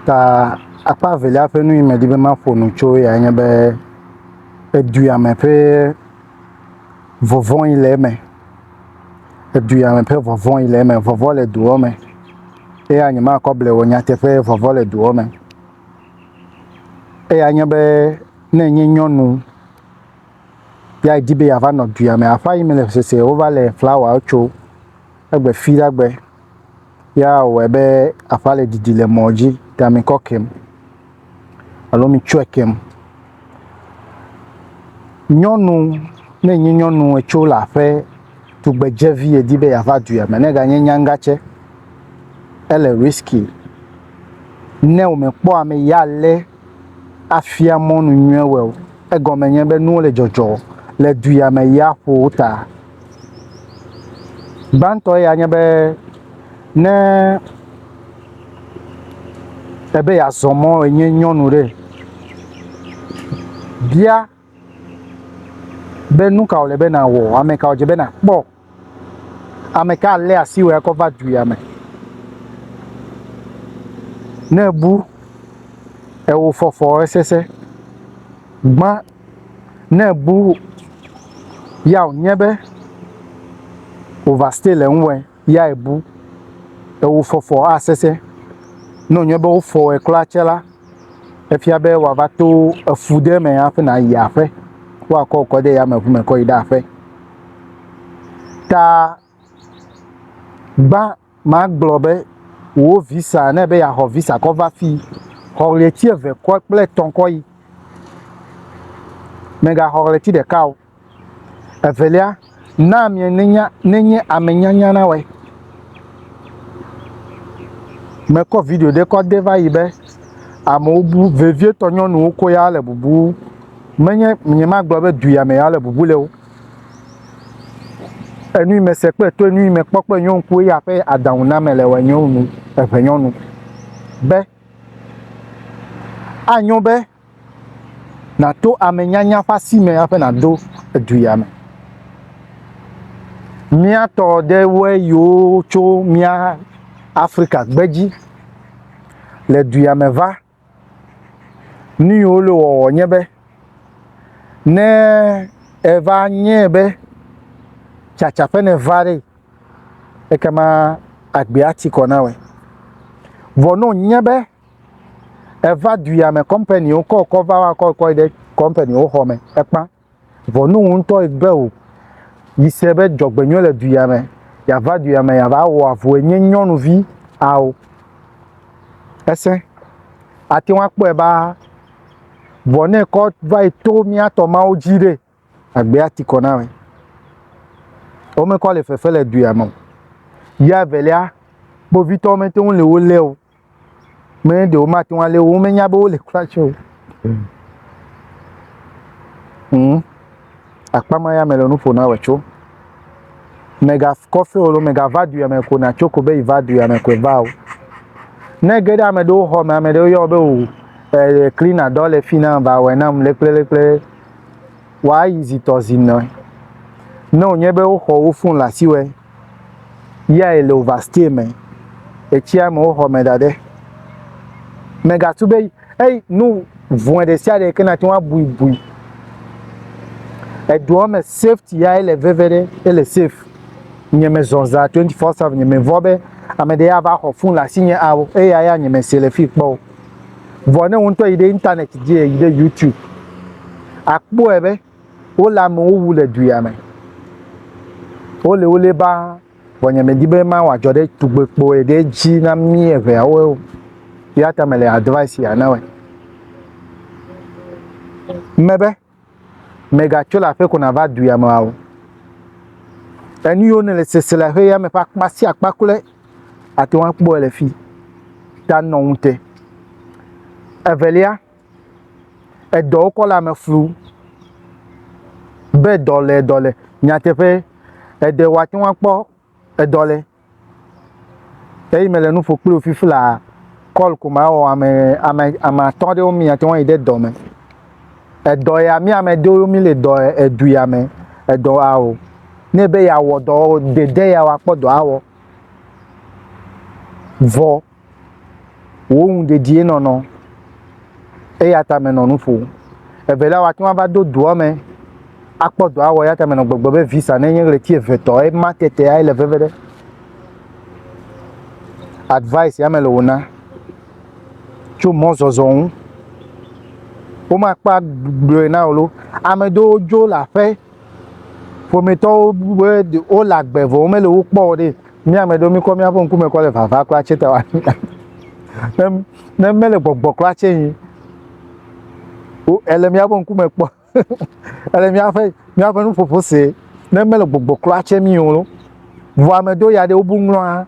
Ta akpa evelia ƒe nu yi medi be maƒo nu tso yae nye be eduyame ƒe vɔvɔ̃ yi le eme. Eduyame ƒe vɔvɔ̃ yi le eme. Vɔvɔ̃ le duɔ me eya nyemakɔ ble o nyateƒe vɔvɔ̃ le duɔ me. Eya nye be ne enye nyɔnu ya edi be yeava nɔ duyame aƒea yi me le sese wova le flawa tso egbe fi ɖe gbe. Ya wòwɔe be aƒea le didi le mɔ dzi ta mikɔ kem alo mitsɔe kem. Nyɔnu, ne enye nyɔnu etso le aƒe tugbedzevi edi be yeava dua me ne eganye nyagã tsɛ, ele risky. Ne wòmekpɔ ame yi alé afia mɔnu nyuie wɔe o, egɔme nye be nuwo le dzɔdzɔ le du ya me yia ƒo wo ta. Gbãtɔ ya nye be ne ebe yeazɔ mɔ enye nyɔnu ɖe, bia be nu ka wòle be nàwɔ, ame ka wòdze be nàkpɔ, ame ka alé asi wò akɔ va du ya me. Ne èbu ewofɔfɔ esese, gbã. Ne èbu ya wònye be wòvastɛ le ŋuwɔe ya èbu, ewò fɔfɔ asesẽ. Ne wònye be wofɔ wòe kura tsɛ la, efia be wòava to efu ɖe me hafi nàyi aƒe. Woakɔ wò kɔ de yameŋu me kɔ yi ɖe aƒe. Ta gbã. Magblɔ be, Wò visa, ne ebe yeaxɔ visa kɔ va fii, xɔ ɣleti eve kɔ kple etɔ̃ kɔ yi. Mègaxɔ ɣleti ɖeka o. Evelia, na amea nenya nenye ame nyanya na wɔe. Mekɔ video ɖe kɔ de va yi be, Amewo bu vevietɔ nyɔnuwo ko ya le bubu, menye nyemagblɔ be du ya me ya le bubu le o. Enui me se kple to enui me kpɔ kple nyɔ ŋku eya ƒe adaŋu na me le wɔ nyɔ nu eŋe nyɔ nu. Be a nyɔ be na to ame nyanya ƒe asi me aƒe na do edu ya me. Mía tɔ ɖe wɔ yiwo tso mía Afrika gbedzi le du ya me va. Nu yi wole wɔwɔ nye be, ne eva nyɛ be tsatsa ƒe ne va ɖe, ekema agbea ti kɔ na wɛ. Vɔ no nye be eva duya me kɔmpaniwo kɔ kɔ va wa kɔ kɔe ɖe kɔmpaniwo xɔ me ekpa. Ʋɔnu ŋutɔ gbe o yi se be dzɔgbenyɔ le duya me, yava duya me yava wɔ avue nye nyɔnuvi ao. Ese. Ate ŋu akpɔe ba vɔ ne kɔ va yi to mía tɔ mawo dzi ɖe agbea ti kɔ na me. Womekɔ le fefe le duya me o. Ya evelia, kpovitɔwo mete ŋu le wo lé o. Mɛ ɖewo mate ŋu alé wo, womenya be wole kura tsɛ o. Ŋ, akpa ma ya mele nu ƒo na wòe tso. Mègakɔ fewo loo, mègava du ya me ko nàtso ko be yeva du ya me koe va o. Ne ge ɖe ame ɖewo xɔ me, ame ɖewo yɔ be o, e, klina dɔ le fi nam, va wɔe nam lekplelekple, wòayi zitɔ zi nɔe. Ne wònye be woxɔ wo fon le asiwɔe. Yae le overstay me. Etsia me woxɔ me da ɖe. Megatu be eyi nu vɔe ɖe sia ɖe ke nate ŋu abui bui. Edoa me safety ya ele veve ɖe ele safe. Nye me zɔ za 24/7 nye me vɔ be ame ɖe ava xɔ fun le asi nye ao eya ya nye me se le fi kpɔ o. Vɔ ne wo ŋutɔ yi ɖe internet dzi yi ɖe YouTube akpɔe be Wole amewo wu le du ya me. Wole wole ba vɔ nye medi be ma wɔ dzɔ ɖe tugbe kpo ye ɖe dzi na mi eve ya wo. Ya ta mele advice ya na wɔ. Me be mega tso le aƒe ko na va du ya me wa wo. Enu yo ne le sese le aƒe ya me fa kpa si akpa kule ate wa kpo le fi. Ta nɔ ŋute. Evelia. edɔwo kɔ le ame flum be dɔle dɔle nyateƒe eɖe woate ŋu akpɔ edɔ le eyi mele nu ƒo kpli wò fifi laa kɔl ko mawɔ ame ame ame atɔ aɖewo mi ate ŋu ayi ɖe dɔ me. Edɔ ya mi ame aɖewo mi le dɔ edu ya me edɔ ya o ne be yeawɔ dɔ dede ya o akpɔ dɔ awɔ vɔ. wò nu dedie nɔnɔ. Eya ta menɔ nu ƒom. Evelia, wòate ŋu ava do dɔa me akpɔ dɔa wɔ, eya ta menɔ gbɔgblɔm be visa nenye ɣleti eve tɔ ema tetea ele veve ɖe. Advice ya mele wòna tso mɔzɔzɔ ŋu. Womakpa gblɔe na wò lo. Ame ɖewo dzo le aƒe ƒometɔwo be wole agbe vɔ womele wo kpɔ o ɖe. Mi ame ɖewo mikɔ miaƒe ŋkume kɔ le vava kura tse ta wa ne ne mele gbɔgbɔ kura tse yi wo ele miaƒe ŋkume kpɔ ele miaƒe miaƒe nuƒoƒo se ne mele gbɔgbɔ kura tse mi o lo vɔ ame ɖewo ya ɖe wobu ŋlɔa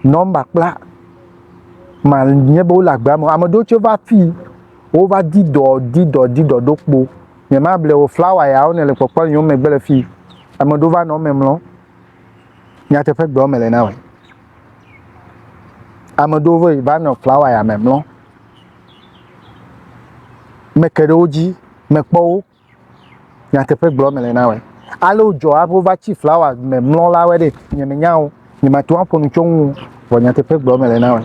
nɔmba kpla ma nye be wole agbea me ame ɖewo tse va fi wova di dɔ di dɔ di dɔ ɖo kpo nyemable o flawa yawo ne le kpɔkpɔ yom megbe le fi ame ɖewo va nɔ eme mlɔ. nyateƒe gblɔm mele na wò. Ame ɖewo vɛ va nɔ flawa ya me mlɔ. Meke ɖe wo dzi, mekpɔ wo. Nyateƒe gblɔm mele na wò. Ale wodzɔ hafi wova tsi flawa me mlɔ la wɔ ɖe nyemenya wo. Nyemate ŋu aƒo nu tso eŋu o. Vɔ nyateƒe gblɔm mele na wò.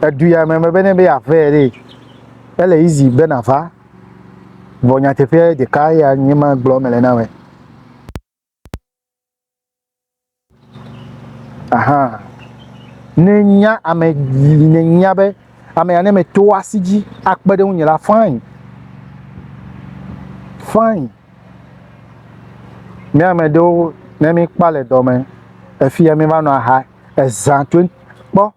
Edu ya me mebe ne be yeavea ɖee, ele easy be nàva. Vɔ nyateƒe ɖeka ya nye ma gblɔ mele na wɛ. Aha. Ne nya ame ne nya be ame ya ne me to asi dzi akpe ɖe ŋunye la fine. Fine. Ne ame ɖewo ne mi kpa le dɔme efia mi va nɔ aha ezã to kpɔ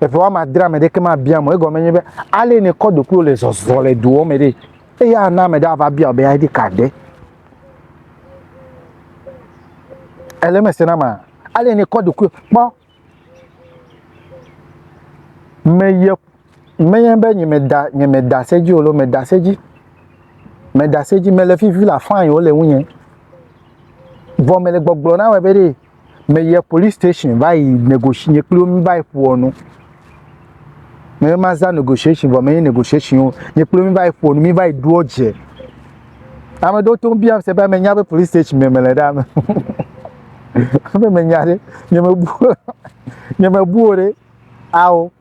Eƒe woame adre ame ɖeke mabia mo. Egɔme nye be ale ne kɔ ɖokuiwo le zɔzɔ le doɔ me ɖe. Eye ana ame ɖe ava bia be ID card ɖe. Ele me se na ma. Ale ne kɔ ɖokui kpɔ. Me ye me ye be nye me da nye me da se dzi olo me da se dzi. Me da se dzi me le fifi la fine wo le wunye. Vɔ me le gbɔgblɔ na wɔ be ɖe. Me yie police station va yi negotiate nye kpli wo mi va yi ƒoɔ nu. Me ma za negotiation vɔ me yi negotiation wo nye kpli wo mi va yi ƒoɔ nu mi va yi ɖoɔ dze. Ame ɖewo to bia se be menya be police station me mele ɖa me. Ebe menya ɖe nye me bu nye me bu o ɖe ao.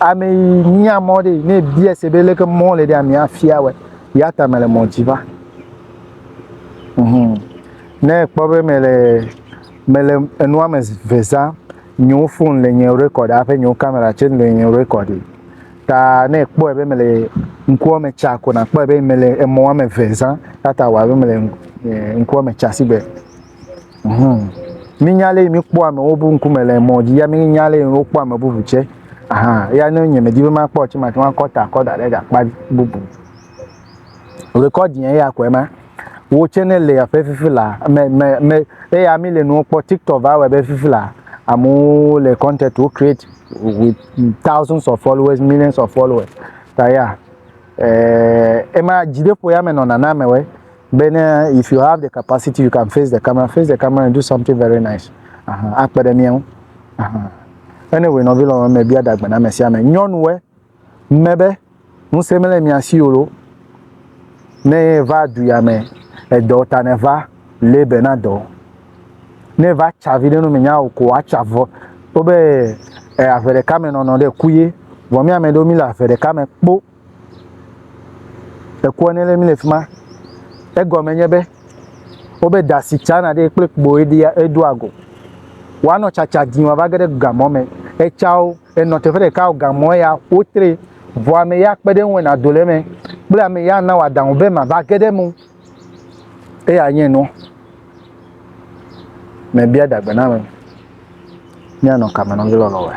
Ame yi nya mɔ ɖe ne bia se be leke mɔ le ɖe ame afia wɛ. Ya ta mele mɔ dzi va. Mhm. Ne kpɔ be mele mele enua me ve za, nyewo fon le nye rekɔd aƒe nyewo kamera tse le nye rekɔd. Ta ne kpɔe be mele ŋkua me tsa ko na kpɔe be mele emɔ ame ve za. Ya ta wa be mele ŋkua me tsa sigbe. Mínya ale míkpɔ amewo ƒe ŋkume le mɔ dzi ya mínya ale wokpɔ ame bubu tsɛ. Aha, ya ne nye medi be makpɔ tsɛ mate ŋu akɔ ta kɔ da ɖe gakpa bubu. Rekɔdiɛ ya kɔe ma. Wo tsɛ ne le aƒe fifi la me me me eya mi le nuwo kpɔ tiktok va wɔ be fifi la amewo le content wo create with thousands of followers millions of followers ta ya. Eh, ema dzideƒo ya me nɔna na amewe. be ne if you have the capacity you can face the camera face the camera and do something very nice akpe ɖe mía ŋu anyway nɔvi lɔlɔ me bia dagbe na ame sia ame nyɔnuwe me be ŋusẽ mele mia si o ne va du ya me edɔ ta ne va lebe na dɔ ne va tsa vi ɖe nu menya o ko atsa vɔ wobe eh, aʋe ɖeka me nɔnɔ ɖe ku ye vɔ mi ame ɖewo mi le aʋe ɖeka me kpo Ekua ne le mi le fi ma. Egɔme nye be wobe da si tsana ɖi kple kpoe ɖia eɖo ago. Woanɔ tsatsa dzi wòava ge ɖe gamɔ me. Etsawo enɔ teƒe ɖeka o gamɔ ya wotre vɔ ame ya kpe ɖe eŋu wɔ nado le eme kple ame ya ana wòadaŋu be mava ge ɖe eme o. Eya nye nua. Mebia dagbe na ame. Míanɔ kame nɔ mí lɔlɔ̃woe.